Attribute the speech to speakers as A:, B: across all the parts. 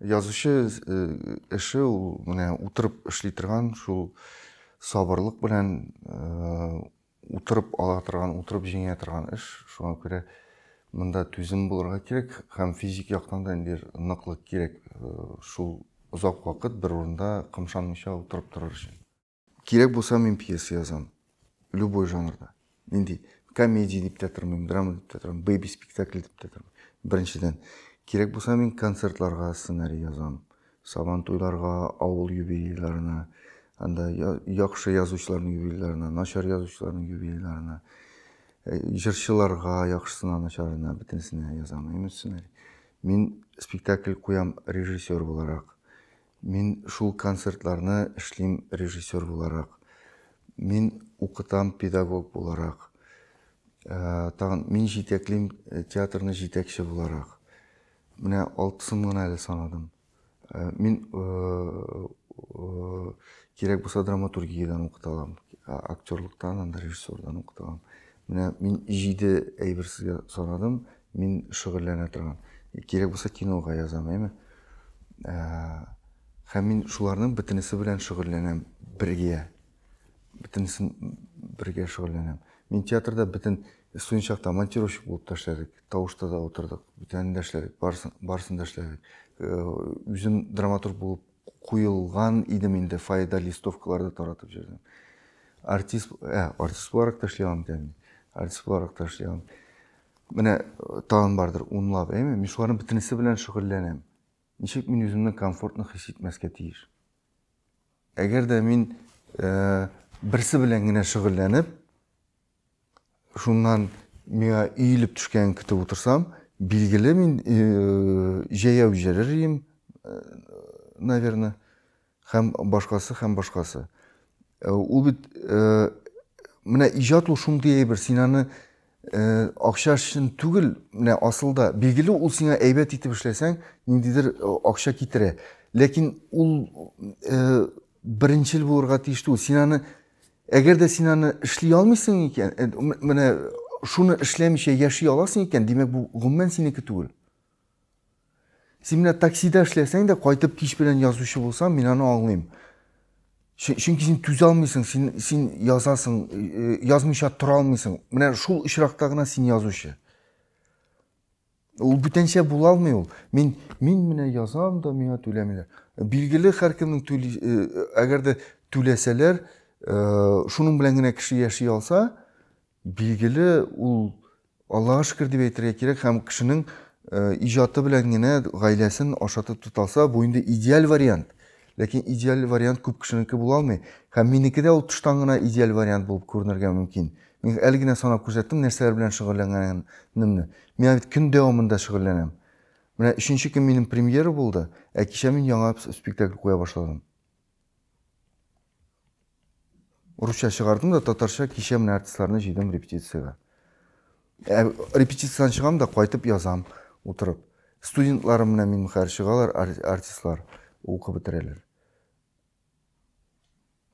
A: Язучы э, эше ул менә утырып эшли торган шул сабырлык белән э, утырып ала торган, утырып җиңә торган эш. Шуңа күрә монда түзем булырга кирәк һәм физик яктан да инде ныклык кирәк э, шул озак вакыт бер урында кымшанмыйча утырып торыр өчен. Кирәк булса, мин пьеса язам. Любой жанрда. Нинди комедия дип тә тормыйм, драма дип тә тормыйм, бэби спектакль дип тә тормыйм. Беренчедән, кирәк булса, мин концертларга сценарий язам. Сабан туйларга, авыл юбилейларына, анда яхшы язучыларның юбилейларына, начар язучыларның юбилейларына, э, җырчыларга, яхшысына, начарына, бөтенесенә язам. Именно сценарий. Мин спектакль куям режиссер буларак. Мин шул концертларны эшлим режиссер буларак. Мин укытам педагог буларак. Тагын мин җитәклим театрны җитәкче буларак. Менә алтысын гына әле санадым. Мин кирәк булса драматургиядән укыта алам. Актерлыктан, анда режиссердан укыта алам. Менә мин җиде әйбер сезгә санадым. Мин шөгыльләнә торган. Кирәк булса кинога язам, әйме? Ә, һәм мин шуларның бөтенесе белән шөгыльләнәм бергә. Бөтенесен бергә шөгыльләнәм. Мин театрда бөтен студент чакта монтировщик булып та эшләдек, тавышта да утырдык, бүтәнен дә эшләдек, барысын, барысын да эшләдек. Э, үзем драматург булып куелган идем инде, фойеда листовкаларды таратып җөрдем. Артист, ә, артист буларак та эшли алам икән. Артист буларак та эшли алам. Менә тагын бардыр унлап, әйме? Мин шуларның бөтенесе белән шөгыльләнәм. Ничек мин үземне комфортно хис итмәскә тиеш? Әгәр дә мин э, берсе белән генә шөгыльләнеп, шуннан миңа иелеп төшкәнен көтеп утырсам, билгеле мин э, җәяү җәлер ием, э, наверное. Һәм башкасы, һәм башкасы. Э, ул бит э, менә иҗат ул шундый әйбер, син аны э, акча өчен түгел, менә асылда билгеле ул сиңа әйбәт итеп эшләсәң, ниндидер акча китерә. Ләкин ул беренчел булырга тиеш түгел. Син аны әгәр дә син аны эшли алмыйсың икән, менә шуны эшләмичә яши аласың икән, димәк бу гомумән синеке түгел. Син менә таксида эшләсәң дә, кайтып кич белән язучы булсаң, мин аны аңлыйм. Чөнки син түзә алмыйсың, син, син язасың, э, язмыйча тора алмыйсың. Менә шул очракта гына син язучы. Ул бүтәнчә була алмый ул. Мин, мин менә язам да, миңа түләмиләр. Билгеле, һәркемнең түли, э, әгәр дә түләсәләр, э, шуның белән генә кеше яши алса, билгеле, ул Аллага шөкер дип әйтергә кирәк һәм кешенең иҗаты белән генә гаиләсен ашатып тоталса, бу инде идеаль вариант. Ләкин идеаль вариант күп кешенеке була алмый. Һәм минеке дә ул тыштан гына идеаль вариант булып күренергә мөмкин. Мин әле генә санап күрсәттем, нәрсәләр белән шөгыльләнгәнемне. Мин бит көн дәвамында шөгыльләнәм. Менә өченче көн минем премьера булды, ә кичә мин яңа спектакль куя башладым. Русча чыгардым да татарча кичә менә артистларны җыйдым репетициягә. Ә, репетициядән чыгам да кайтып язам утырып. Студентларым менә мин хәзер чыгалар артистлар укып бетерәләр.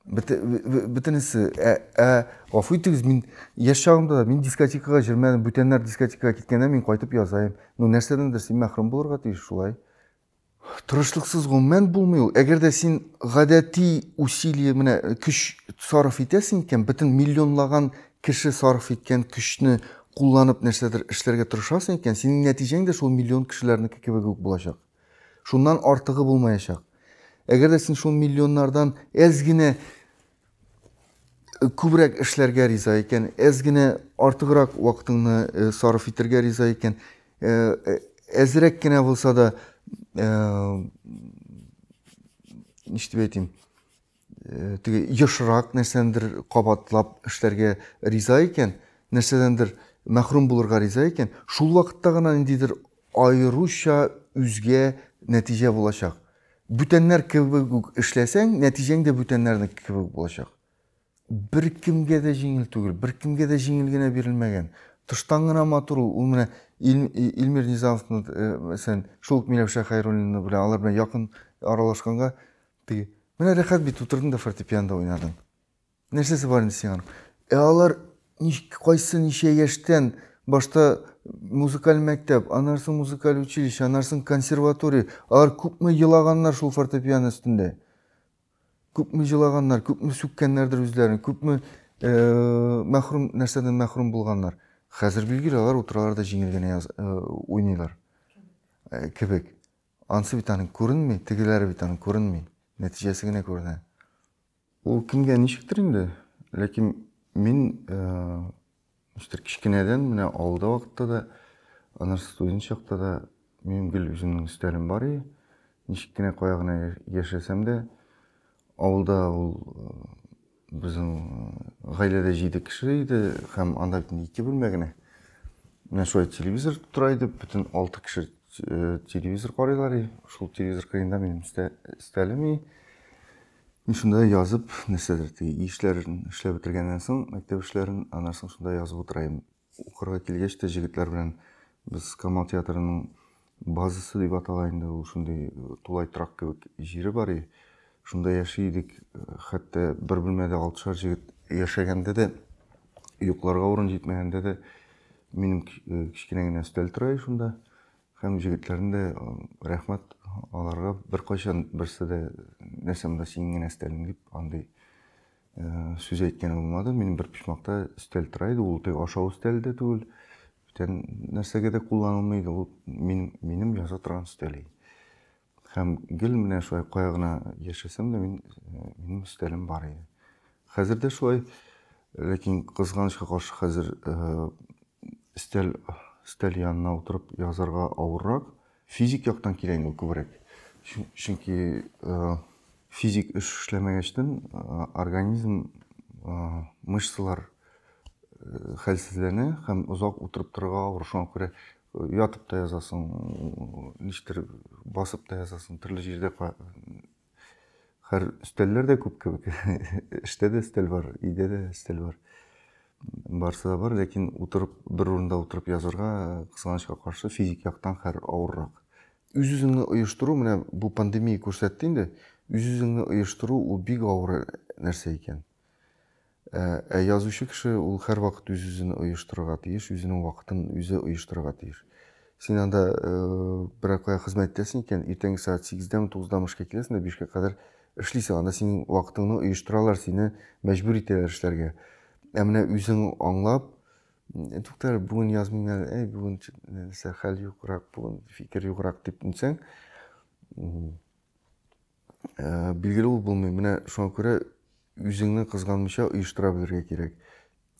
A: Бөтенесе, ә, ә гафу итегез, мин яшь чагымда да мин дискотекага җөрмәдем, бүтәннәр дискотекага киткәндә мин кайтып язаем. Ну нәрсәдәндер син мәхрүм булырга тиеш шулай. Тырышлыксыз гомумән булмый ул. Әгәр дә син гадәти усилие менә көч сарыф итәсең икән, бөтен миллионлаган кеше сарыф иткән көчне кулланып нәрсәдер эшләргә тырышасың икән, синең нәтиҗәң дә шул миллион кешеләрнеке кебек үк булачак. Шуннан артыгы булмаячак. Әгәр дә син шул миллионнардан әз генә күбрәк эшләргә риза икән, әз генә артыграк вакытыңны э, сарыф итәргә риза икән, э, э, әзрәк кенә булса да, ништеп әйтим, теге ешрак нәрсәндер кабатлап эшләргә риза икән, нәрсәдәндер мәхрүм булырга риза икән, шул вакытта гына ниндидер аеруча үзгә нәтиҗә булачак. Бүтәннәр кебек үк эшләсәң, нәтиҗәң дә бүтәннәрнеке кебек булачак. Беркемгә дә җиңел түгел, беркемгә дә җиңел генә бирелмәгән. Тыштан гына матур ул. Ул менә Илмир Низамовны, мәсәлән, шул ук Миләүшә Хәйруллина белән, алар белән якын аралашканга, теге, Менә рәхәт бит, утырдың да фортепианьда уйнадың. Нәрсәсе бар инде сиңа? Ә алар кайсы ничә яшьтән башта музыкаль мәктәп, аннан соң музыкаль училище, аннан соң консерватория. Алар күпме елаганнар шул фортепиано өстендә. Күпме елаганнар, күпме сүккәннәрдер үзләрен, күпме э, мәхрүм нәрсәдән мәхрүм булганнар. Хәзер билгеле алар утыралар да җиңел генә яз, э, уйныйлар. Э, кебек. Ансы бит аның күренми, тегеләре бит аның күренми. Нәтиҗәсе генә күренә. Ул кемгә ничектер инде, ләкин мин ничектер кечкенәдән менә авылда вакытта да, аннан студент чакта да минем гел үземнең стилем бар иде. Ничек кенә кая гына яшәсәм дә, авылда ул безнең гаиләдә җиде кеше иде һәм анда бит инде ике бүлмә генә. Менә шулай телевизор тора иде, бөтен алты кеше телевизор карыйлар иде. Шул телевизор кырыенда минем стилем иде. Мин шунда язып, нәрсәдер теге ишләрен эшләп бетергәннән соң, мәктәп эшләрен, аннан соң шунда язып утырайм. Укырга килгәч тә җегетләр белән без Камал театрының базасы дип атала инде, ул шундый э, тулай торак кебек җире бар и. Шунда яши идек, э, хәтта бер бүлмәдә алтышар җегет яшәгәндә дә, йокларга урын җитмәгәндә дә минем э, кечкенә генә өстәл тора и шунда. Һәм җегетләрне дә рәхмәт аларга беркайчан берсе дә нәрсә монда синең генә өстәлең дип андый сүз әйткән булмады. Мин бер почмакта өстәл тора иде, ул теге ашау өстәле дә түгел, бүтән нәрсәгә дә кулланылмый иде, ул минем, минем яза торган өстәл иде. Һәм гел менә шулай кая гына яшәсәм дә, мин, минем өстәлем бар иде. Хәзер дә шулай, ләкин кызганычка каршы хәзер өстәл, өстәл янына утырып язарга авыррак. Физик яктан килә инде күбрәк. Чөнки физик эш эшләмәгәчтен организм, мышцалар хәлсезләнә һәм озак утырып торырга авыр. Шуңа күрә ятып та язасың ничектер басып та язасың төрле җирдә хәр өстәлләр дә күп кебек эштә дә өстәл бар өйдә дә өстәл бар барысы да бар ләкин утырып бер урында утырып язырга кызганычка каршы физик яктан хәр авыррак үз үзеңне оештыру менә бу пандемия күрсәтте инде үз үзеңне оештыру ул бик авыр нәрсә икән Ә, ә язучы кеше ул һәрвакыт үз-үзен оештырырга тиеш, үзенең вакытын үзе оештырырга тиеш. Син анда э, берәр кая хезмәт итәсең икән, иртәнге сәгать 8-дәме, 9-дамы эшкә киләсең дә 5-кә кадәр эшлисең. Анда синең вакытыңны оештыралар, сине мәҗбүр итәләр эшләргә. Ә менә үзең аңлап, «Э, туктар әле, бүген язмыйм әле, әй, бүген ч- нәрсә, хәл юграк, бүген фикер юграк дип нисәң, м, Ә, билгеле ул булмый. Менә шуңа күрә үзеңне кызганмыйча оештыра белергә кирәк.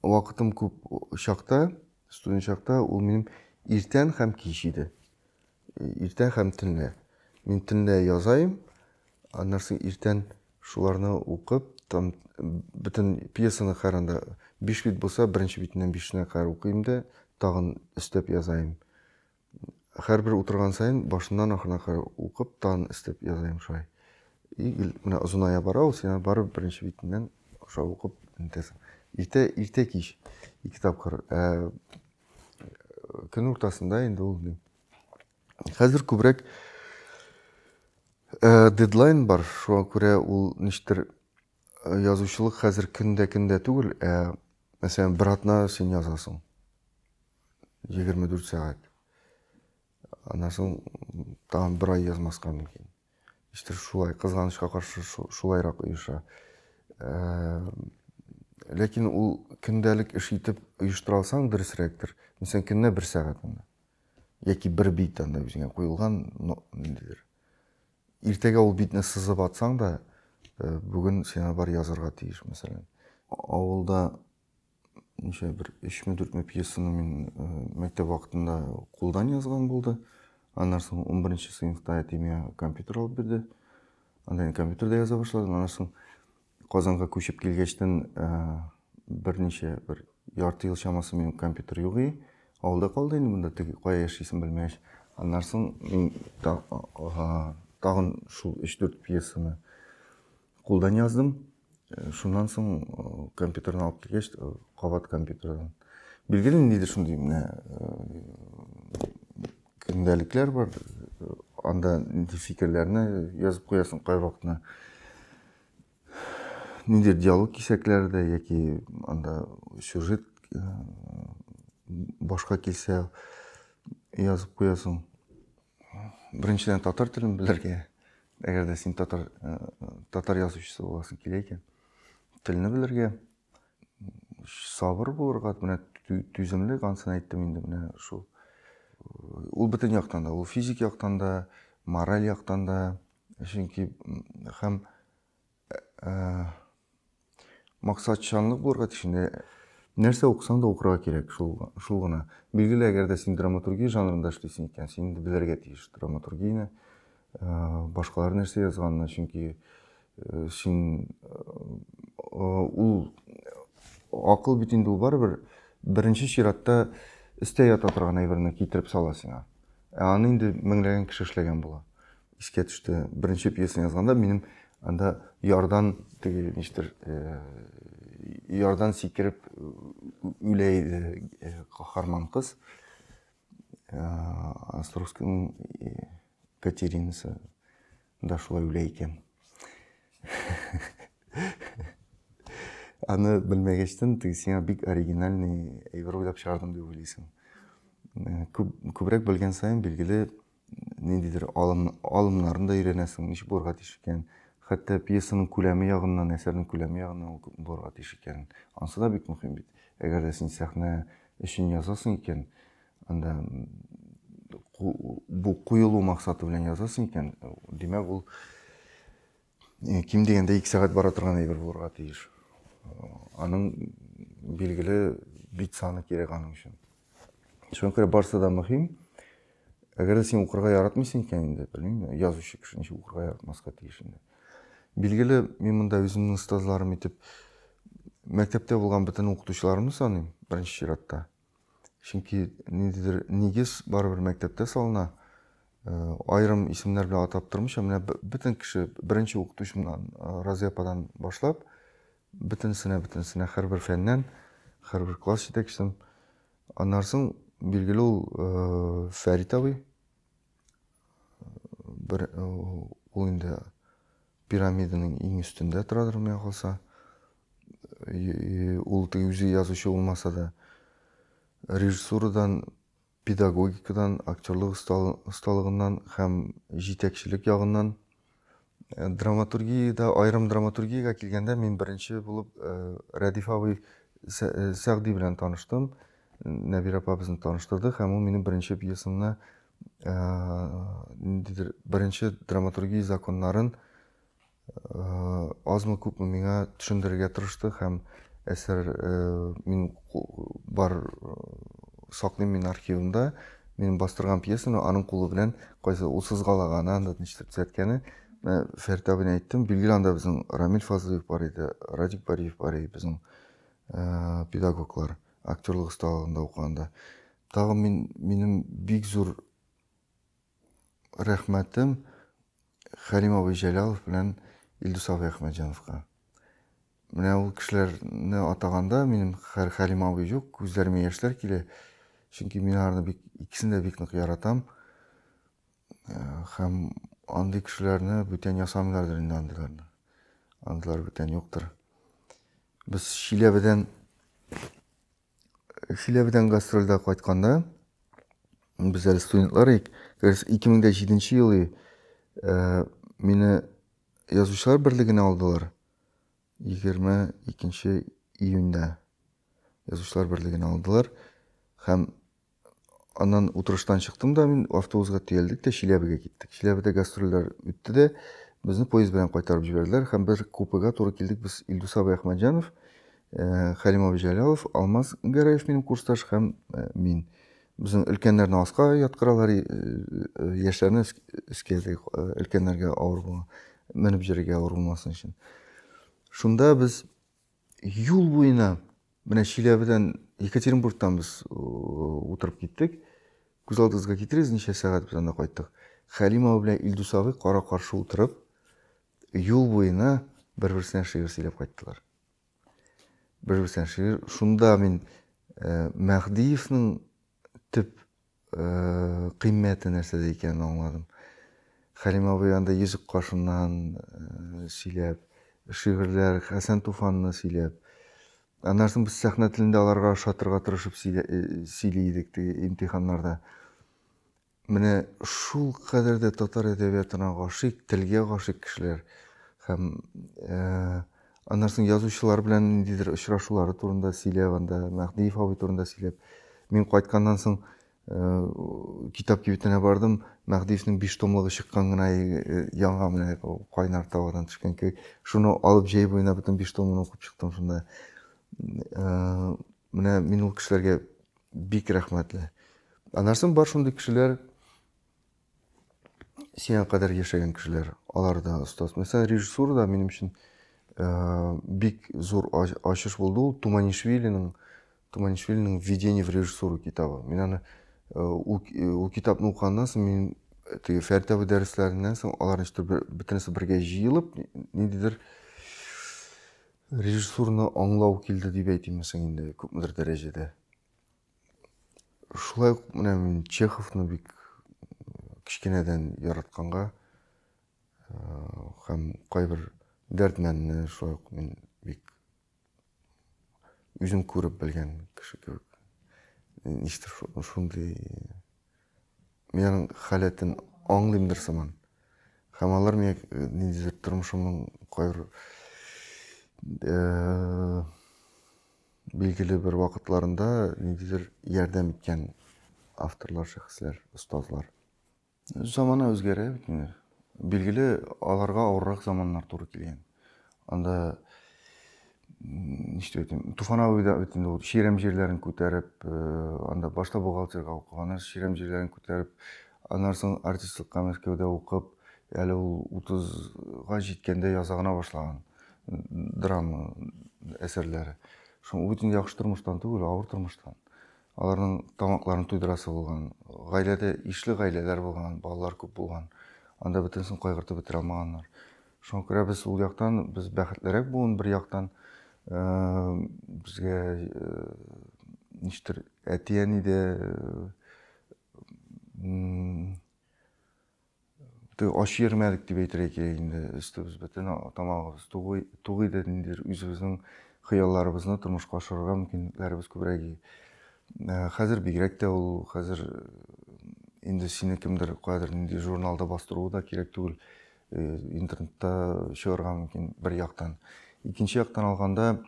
A: Вакытым күп чакта, студент чакта ул минем иртән һәм кич иде. Иртән һәм төнлә. Мин төнлә язаем, аннан соң иртән шуларны укып, там бөтен пьесаны каранда 5 бит булса, беренче битеннән 5-нә кадәр укыйм да, тагын өстәп язаем. Хәрбер утырган саен башыннан ахырына кадәр укып, тан эстеп язайм шулай. И гел менә озыная бара ул, сиңа барып беренче битеннән шулай укып нитәсең. Иртә, иртә кич ике тапкыр. Ә көн уртасында инде ул ни. Хәзер күбрәк дедлайн бар, шуңа күрә ул ништер язучылык хәзер көн дә көн дә түгел, ә мәсәлән, бер атна син язасың. 24 сәгать. Аннан соң тагын бер ай язмаска мөмкин. Иштер шулай, кызганычка каршы шулайрак оеша. Ләкин ул көндәлек эш итеп оештыра алсаң, дөресрәктер. Мәсәлән, көненә бер сәгать анда. Яки бер бит анда үзеңә куелган, ниндидер. Иртәгә ул битне сызып атсаң да, бүген син аны бар язарга тиеш, мәсәлән. Авылда ничә бер өчме дүртме пьесаны мин мәктәп вакытында кулдан язган булды. Аннан соң унберенче сыйныфта әтием миңа компьютер алып бирде. Анда мин компьютерда яза башладым. Аннан соң Казанга күчеп килгәчтен берничә, бер ярты ел чамасы минем компьютер юк и. Авылда калды инде монда, теге кая яшисен белмәгәч. Аннан соң мин тагын шул 3-4 пьесаны кулдан яздым. Шуннан соң компьютерны алып килгәч, кабат компьютердан. Билгеле ниндидер шундый менә Көндәлекләр бар, анда нинди фикерләрне язып куясың кайвакытны. Нинди диалог кисәкләре дә яки анда сюжет э, башка килсә язып куясың. Беренчедән татар телен белергә, әгәр дә син татар э, татар язучысы буласың килә икән, телне белергә. сабыр булырга, менә түземлек, ансын әйттем инде менә шул. Ул бөтен яктан да, ул физик яктан да, мораль яктан да, чөнки һәм э, э, максатчанлык булырга тиешендә нәрсә укысаң да укырга кирәк шул шул гына билгеле әгәр дә син драматургия жанрында эшлисең икән син инде белергә тиеш драматургияне Башкалар нәрсә язганны, чөнки син ул акыл бит инде ул барыбер беренче чиратта өстә ята торган әйберне китереп сала сиңа. Ә аны инде меңләгән кеше эшләгән була. Искә төште, беренче пьесаны язганда минем анда ярдан теге ништер ярдан сикереп үлә иде каһарман кыз. Островскийның Катеринасы да шулай үлә икән. Аны белмәгәчтен, теге сиңа бик оригинальный әйбер уйлап чыгардым дип уйлыйсың. Күбрәк белгән саен, билгеле, ниндидер алым, алымнарын да өйрәнәсең, ничек булырга тиеш икән. Хәтта пьесаның күләме ягыннан, әсәрнең күләме ягыннан ул булырга тиеш икән. Ансы да бик мөһим бит. Әгәр дә син сәхнә өчен язасың икән, анда бу куелу максаты белән язасың икән, димәк ул Ким дигәндә ике сәгать бара торган әйбер булырга тиеш. Аның билгеле бит саны кирәк аның өчен. Шуңа күрә барысы да мөһим. Әгәр дә син укырга яратмыйсың икән инде, белмим, язучы кеше ничек укырга яратмаска тиеш инде. Билгеле, мин монда үземнең остазларым итеп мәктәптә булган бөтен укытучыларымны саныйм, беренче чиратта. Чөнки ниндидер нигез барыбер мәктәптә салына. Э, аерым исемнәр белән атап тормыйча, менә бөтен кеше беренче укытучымнан, э, Разия ападан башлап, бөтенесенә, бөтенесенә һәрбер фәннән, һәрбер класс җитәкчесен. Аннан соң, билгеле ул э, Фәрит абый, бер э, ул инде пирамиданың иң өстендә торадыр менә калса ул теге үзе язучы булмаса да режиссурадан педагогикадан актерлык осталыгыннан һәм җитәкчелек ягыннан Э, драматургиядә аерым драматургиягә килгәндә мин беренче булып э, рәдиф абый э, сәгъди белән таныштым нәбирә апа безне таныштырды һәм ул минем беренче пьесамны ниндидер беренче драматургия законнарын азмы күпме миңа төшендерергә тырышты һәм әсәр мин Бар саклыйм мин архивымда минем бастырган пьесаны аның кулы белән кайсы ул сызгалаганы анда нишләп төзәткәне менә фәрит абыйны әйттем билгеле анда безнең рамил фазлыев бар иде радик бариев бар иде безнең ә, педагоглар актерлык осталыгында укыганда тагын мин минем бик зур рәхмәтем Хәрим абый Җәлалов белән Илдус абый Әхмәтҗановка. Менә ул кешеләрне атаганда минем хәр Хәрим абый юк, күзләремә яшьләр килә. Чөнки мин аларны бик икесен дә бик нык яратам. Э, һәм андый кешеләрне бүтән ясамыйлардыр инде андыйларны. Андыйлар бүтән юктыр. Без Чиләбедән Чиләбедән гастрольдә кайтканда, без әле студентлар идек. Дөрес, 2007 ел иде. Мине язучылар берлегенә алдылар. 22 июньдә язучылар берлегенә алдылар. Һәм Аннан утырыштан чыктым да мин, автобусга төялдек тә Чиләбегә киттек. Чиләбедә гастрольләр үтте дә, безне поезд белән кайтарып җибәрделәр һәм без купега туры килдек. Без Илдус абый Әхмәтҗанов, э, Хәлим абый Җәлалов, Алмаз Гәрәев минем курсташ һәм э, мин. Безнең өлкәннәрне аска яткыралар, э, э, яшьләрне өс- өскә ясый, э, өлкәннәргә авыр була, менеп йөрергә авыр булмасын өчен. Шунда без Юл буена менә Чиләбедән Екатеринбургтан без утырып киттек. Күз алдыгызга китерегез, ничә сәгать без анда кайттык. Хәлим абый белән Илдус абый кара-каршы утырып, юл буена бер-берсенә шигырь сөйләп кайттылар. Бер-берсенә шигырь. Шунда мин э, Мәһдиевнең төп кыйммәте нәрсәдә икәнен аңладым. Хәлим абый анда йөзек кашыннан сөйләп, шигырьләр, Хәсән Туфанны сөйләп, аннан соң без сәхнә телендә аларга ошатырга тырышып сөйли идек теге имтиханнарда. Менә шул кадәр дә татар әдәбиятына гашыйк, телгә гашыйк кешеләр һәм Аннан соң язучылар белән ниндидер очрашулары турында сөйләп, анда Мәһдиев абый турында сөйләп. Мин кайтканнан соң э, китап кибетенә бардым. Мәһдиевнең биш томлыгы чыккан гына э, яңа менә кайнар тавадан төшкән кебек. Шуны алып җәй буена бөтен биш томын укып чыктым шунда. Э, менә мин ул кешеләргә бик рәхмәтле. Аннан соң бар шундый кешеләр, сиңа кадәр яшәгән кешеләр, алар да остаз. Мәсәлән, режиссура да минем өчен э, бик зур ачыш булды ул Туманишвилинең Туманишвилинең Введение в режиссуру китабы. Мин аны э, ул, э, ул китапны укыганнан соң мин теге фәртәве дәресләреннән соң алар ничектер бөтенесе бергә җыелып ниндидер режиссурны аңлау килде дип әйтимме соң инде күпмедер дәрәҗәдә. Шулай ук менә мин Чеховны бик кечкенәдән яратканга һәм кайбер дәрдмәнне шулай ук мин бик үзем күреп белгән кеше кебек. Ништер шундый миянең халәтен аңлыймдыр сыман. Һәм алар миңа ниндидер тормышымның кайбер Билгеле бер вакытларында ниндидер ярдәм иткән авторлар, шәхесләр, остазлар. Замана үзгәрә бит инде. Билгеле, аларга авыррак заманнар туры килгән. Анда ничек әйтим, Туфан абый да бит инде Ширәм җирләрен күтәреп, э, анда башта бухгалтерга укыган, аннан Ширәм җирләрен күтәреп, аннан соң артистлыкка Мәскәүдә укып, әле ул 30га җиткәндә яза гына башлаган. драма әсәрләре. Шуң ул бөтен яхшы тормыштан түгел, авыр тормыштан. Аларның тамакларын туйдырасы булган, гаиләдә ишле гаиләләр булган, балалар күп булган. Анда бөтенесен кайгыртып бетерә алмаганнар. Шуңа күрә без ул яктан без бәхетлерәк буын бер яктан безгә ништер әти-әни дә Ач йөрмәдек дип әйтергә кирәк инде. Өстебез бөтен, тамагыбыз тук иде. Ниндидер үзебезнең хыялларыбызны тормышка ашырырга мөмкинлекләребез күбрәк иде. Хәзер бигрәк тә ул, хәзер инде сине кемдер каядыр нинди журналда бастыруы да кирәк түгел. Интернетта чыгарга мөмкин, бер яктан. Икенче яктан алганда,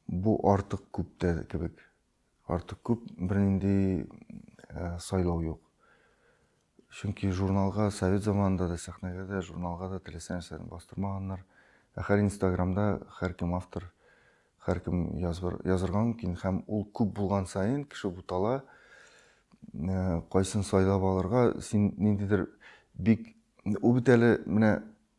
A: Бу артык күп тә кебек. Артык күп, бернинди сайлау юк. Чөнки журналга совет заманында да, сәхнәгә дә, журналга да теләсә нәрсәне бастырмаганнар. Ә хәл Инстаграмда һәркем автор, һәркем язырга мөмкин һәм ул күп булган саен кеше бутала. Кайсын сайлап алырга, син ниндидер бик ул бит әле менә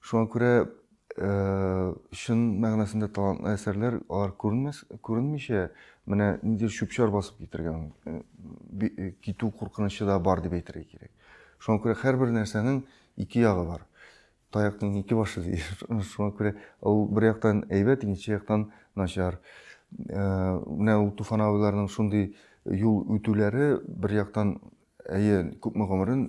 A: Шуңа күрә чын мәгънәсендә талантлы әсәрләр алар күренмәс, күренмичә менә ниндидер чүп-чар басып китергән китү куркынычы да бар дип әйтергә кирәк. Шуңа күрә һәрбер нәрсәнең ике ягы бар. Таяктың ике башы ди. Шуңа күрә ул бер яктан әйбәт, икенче яктан начар. Менә ул Туфан абыйларның шундый юл үтүләре бер яктан Әйе, күпме гомерен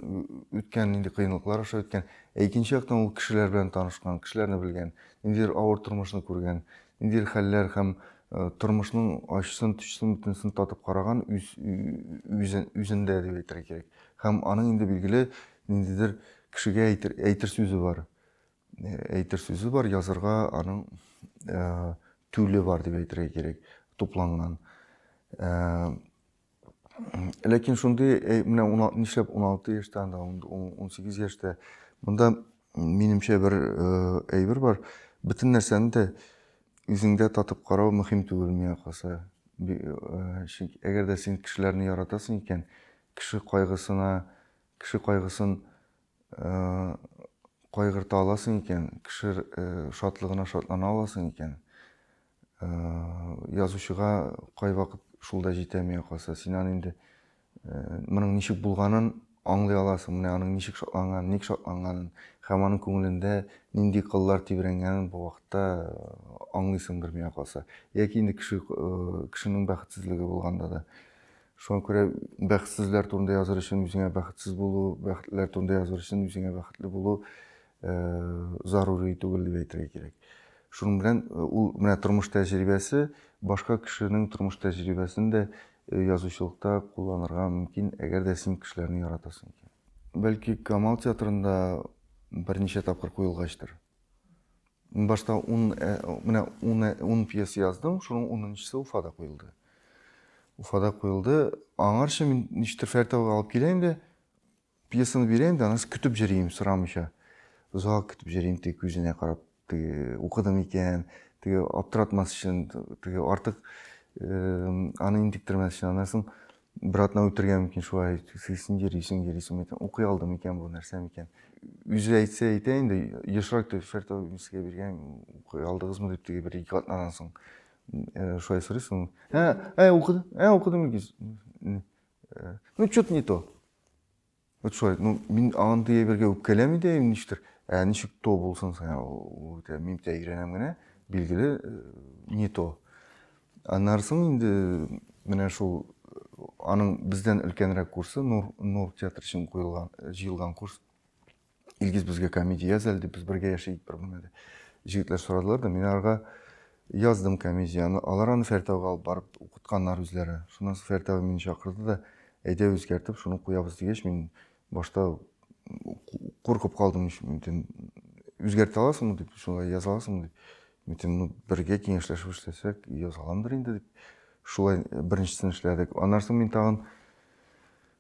A: үткән, нинди кыенлыклар аша үткән. Ә икенче яктан ул кешеләр белән танышкан, кешеләрне белгән, ниндидер авыр тормышны күргән, ниндидер хәлләр һәм э, тормышның ачысын, төчесен, бөтенесен татып караган үз, үзендә дип әйтергә кирәк. Һәм аның инде билгеле ниндидер кешегә әйтер, әйтер сүзе бар. Э, әйтер сүзе бар, язырга аның э, түле бар дип әйтергә кирәк, тупланган. Э, ләкин шундый э, менә нишләп 16 яшьтә анда 18 яшьтә монда минемчә бер э, әйбер бар бөтен нәрсәне дә үзеңдә татып карау мөһим түгел миңа калса э, чөнки әгәр дә син кешеләрне яратасың икән кеше кайгысына кеше кайгысын кайгырта аласың икән кеше шатлыгына шатлана аласың икән Язучыга кайвакыт шул да җитәми, якасы. Син аны инде моның ничек булганын аңлый аласың, менә аның ничек шатланганын, ник шатланганын һәм аның күңелендә нинди кыллар тибрәнгәнен бу вакытта аңлыйсың бер миңа калса. Яки инде кеше кешенең бәхетсезлеге булганда да. Шуңа күрә бәхетсезләр турында языр өчен үзеңә бәхетсез булу, бәхетләр турында языр өчен үзеңә бәхетле булу зарури түгел дип әйтергә кирәк. Шуның белән ул менә тормыш тәҗрибәсе башка кешенең тормыш тәҗрибәсен дә язучылыкта кулланырга мөмкин, әгәр дә син кешеләрне яратасың икән. Бәлки Камал театрында берничә тапкыр куелгачтыр. Башта 10 менә 10 10 пьеса яздым, шуның 10-нчысы Уфада куелды. Уфада куелды. Аңарчы мин ничектер Фәритовга алып килә инде. Пьесаны бирәм дә, анысы көтеп җөрим, сорамыйча. Озак көтеп җөрим, теге күзенә карап, теге укыдым икән, теге аптыратмас өчен, теге артык аны интектермәс өчен. Аннан соң бер атна үтергә мөмкин шулай, син йөрисең, йөрисең, әйтәм, укый алдым икән бу, нәрсә микән? Үзе әйтсә әйтә инде, ешрак дип Фәртов мискә биргән, укый алдыгызмы дип теге бер ике атнадан соң шулай сорыйсың. Ә, ә укыдым, ә укыдым икән. Ну, что-то не то. Вот шулай, ну, мин андый әйбергә үпкәләми дә им ништер. Ә ничек то булсын соң, ул үтә мин тә өйрәнәм генә, билгеле, э, не то. Аннарсын инде менә шул аның бездән өлкәнрәк курсы, Нур, Нур театры өчен куелган, җыелган курс. илгиз безгә комедия яз әле дип без бергә яшәйік бер генә дип җегетләр сорадылар да мин аларга яздым комедияны алар аны фәртәүгә алып барып укытканнар үзләре шуннан соң фәртәү мине чакырды да әйдә үзгәртеп шуны куябыз дигәч мин башта куркып калдым мөмкин үзгәртә аласыңмы дип шулай яза аласыңмы дип мөмкин ну бергә киңәшләшеп эшләсәк яза аламдыр инде дип шулай беренчесен эшләдек аннан соң мин тагын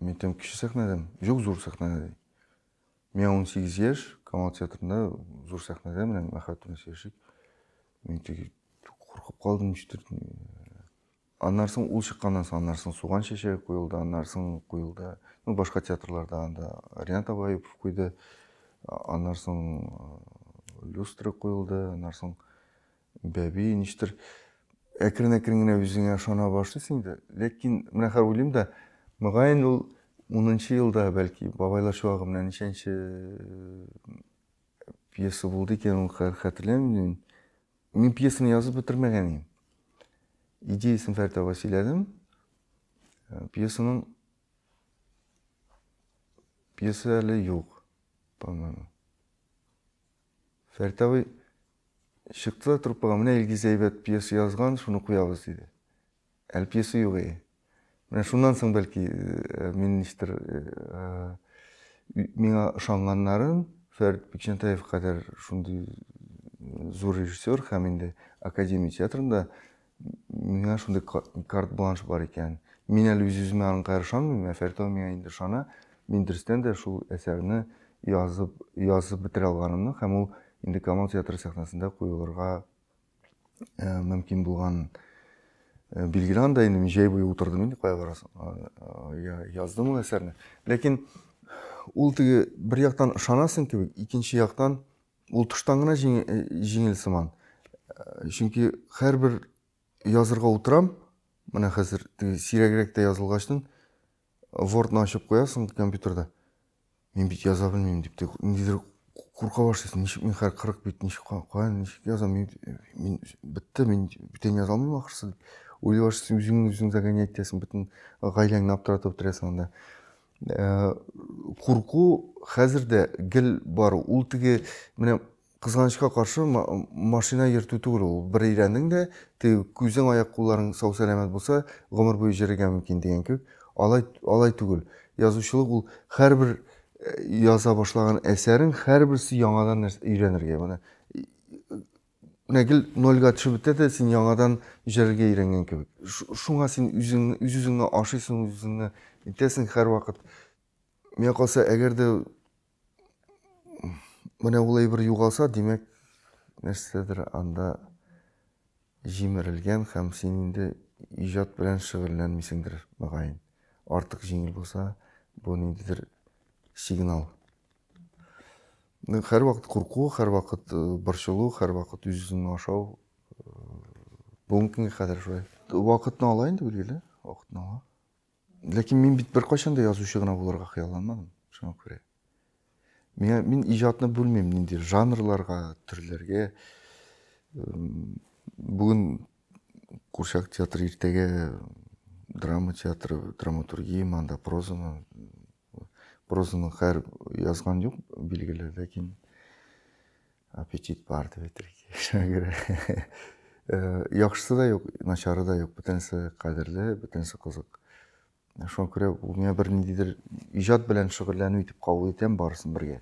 A: Мен там кече сәхнәдәм. Юк, зур сәхнәдә ди. Миңа 18 яшь, Камал театрында зур сәхнәдә менә Мәхәббәт белән сөйләшик. Мин теге куркып калдым ничектер. Аннан соң ул чыкканнан соң, аннан соң Суган чәчәге куелды, аннан соң куелды. Ну, башка театрларда анда Ринат Абаипов куйды. Аннан соң люстра куелды, аннан соң Бәби, ништер, әкрен-әкрен генә үзеңә ышана башлыйсың инде. Ләкин менә хәзер уйлыйм да, мөгаен ул унынчы елда, бәлки, бабайлар чуагы менә ничәнче э, пьеса булды икән, ул хәзер хәтерләмим. Мин пьесаны язып бетермәгән идем. Идеясын Фәрит апа сөйләдем. Э, пьесаның пьеса әле юк, по-моему. Фәрит абый Чыкты да труппага, менә Илгиз әйбәт пьеса язган, шуны куябыз, диде. Әле пьеса юк ие. Менә шуннан соң бәлки э, мин ничтер э, э, миңа ышанганнарын Фәрит Бикчәнтаев кадәр шундый зур режиссер һәм инде Академия театрында Миңа шундый карт-бланш бар икән. Мин әле үз-үземә аңка ышанмыйм, ә Фәритова миңа инде ышана. Мин дөрестән дә шул әсәрне язып, язып бетерә алганымны һәм ул инде Камал театры сәхнәсендә куелырга мөмкин булган билгеле анда инде мин җәй буе утырдым инде кая барасың яздым ул әсәрне ләкин ул теге бер яктан ышанасың кебек икенче яктан Ул тыштан гына җиңел сыман. Чөнки һәрбер язырга утырам, менә хәзер сирәгрәк тә язылгачтын, Word-ны ачып куясың компьютерда. Мин бит яза белмим дип, ниндидер курка башлыйсың, ничек мин хәр 40 бит, ничек кая, ничек язам, мин, мин бетте, мин бүтән яза алмыйм ахрысы дип. Уйлый башлыйсың, үзеңне үзең загонять итәсең, бөтен гаиләңне аптыратып бетерәсең анда. Э, курку хәзер дә гел бар ул теге менә кызганычка каршы машина йөртү түгел ул бер өйрәндең дә теге күзең аяк кулларың сау сәламәт булса гомер буе йөрергә мөмкин дигән кебек алай алай түгел язучылык ул һәрбер э, яза башлаган әсәрең һәрберсе яңадан нәрсә өйрәнергә менә Нәкел нольгә төшеп бетә дә, син яңадан җәлгә өйрәнгән кебек. Шуңа син үз-үзеңне ашыйсың, үз-үзеңне итәсең һәрвакыт. Миңа калса, әгәр дә менә ул әйбер югалса, димәк, нәрсәдер анда җимерелгән һәм син инде иҗат белән шөгыльләнмисеңдер, мөгаен. Артык җиңел булса, бу ниндидер сигнал. Һәрвакыт курку, һәрвакыт борчылу, һәрвакыт үз-үзен ашау. Бүгенге көнгә кадәр шулай. Вакытны ала инде, билгеле, вакытны ала. Ләкин мин бит беркайчан да язучы гына булырга хыялланмадым, шуңа күрә. Миңа мин иҗатны бүлмим нинди жанрларга, төрләргә. Бүген Курчак театры, иртәгә драма театры, драматургия, манда прозаны Прозаны хәр язган юк, билгеле, ләкин аппетит бар дип әйтергә кирәк. Шуңа күрә э, яхшысы да юк, начары да юк, бөтенесе кадерле, бөтенесе кызык. Шуңа күрә ул миңа бер ниндидер иҗат белән шөгыльләнү итеп кабул итәм барысын бергә.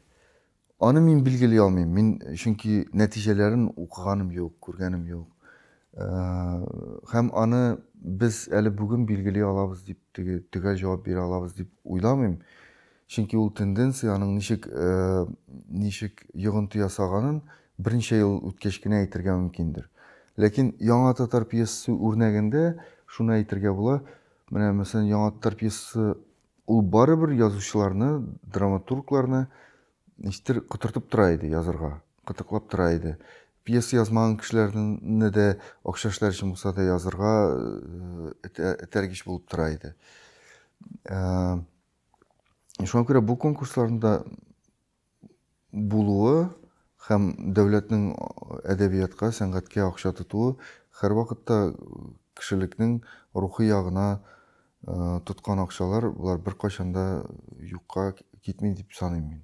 A: Аны мин билгели алмыйм. Мин чөнки нәтиҗәләрен укыганым юк, күргәнем юк. Һәм аны без әле бүген билгели алабыз дип, теге төгәл җавап бирә алабыз дип уйламыйм. Чөнки ул тенденция, аның ничек ничек йогынты ясаганын берничә ел үткәч кенә әйтергә мөмкиндер. Ләкин яңа татар пьесасы үрнәгендә шуны әйтергә була. Менә мәсәлән, яңа татар пьесасы Ул барыбер язучыларны, драматургларны ничтер котыртып тора иде язырга, кытыклап тора иде. Пьеса язмаган кешеләрне дә акча эшләр өчен булса да язырга этәргеч булып тора иде. Шуңа күрә бу конкурсларны да булуы һәм дәүләтнең әдәбиятка, сәнгатькә акча тотуы һәрвакытта кешелекнең рухи ягына тоткан акчалар болар беркайчан да юкка китми дип саныйм мин.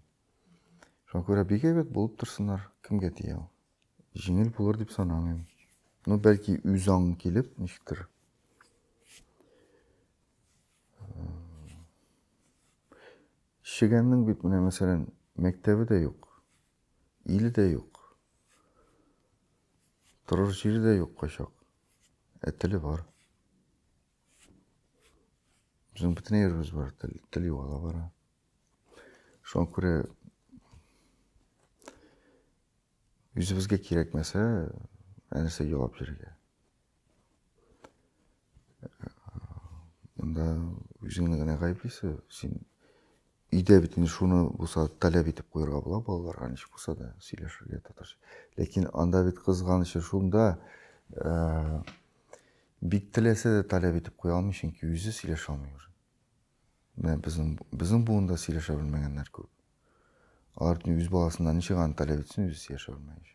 A: Шуңа күрә бик әйбәт булып торсыннар. Кемгә тия ул? Җиңел булыр дип санамыйм. Ну, бәлки, үзаң килеп, ничектер. Чегәннең бит менә мәсәлән мәктәбе дә юк, иле дә юк, торыр җире дә юк кайчак, ә теле бар. Безнең бөтен ерыбыз бар, тел, тел югала бара. Шуңа күрә үзебезгә кирәкмәсә, ә нәрсә елап йөрергә? Монда үзеңне генә гаеплисең. Син өйдә бит инде шуны булса таләп итеп куярга була балаларга ничек булса да сөйләшергә татарча. Ләкин анда бит кызганычы шунда, э, бик теләсә дә таләп итеп куя алмый, чөнки үзе сөйләшә алмый уже. Менә безнең безнең буында сөйләшә белмәгәннәр күп. Алар үз баласыннан ничек аны таләп итсен, үзе сөйләшә белмәгәнче.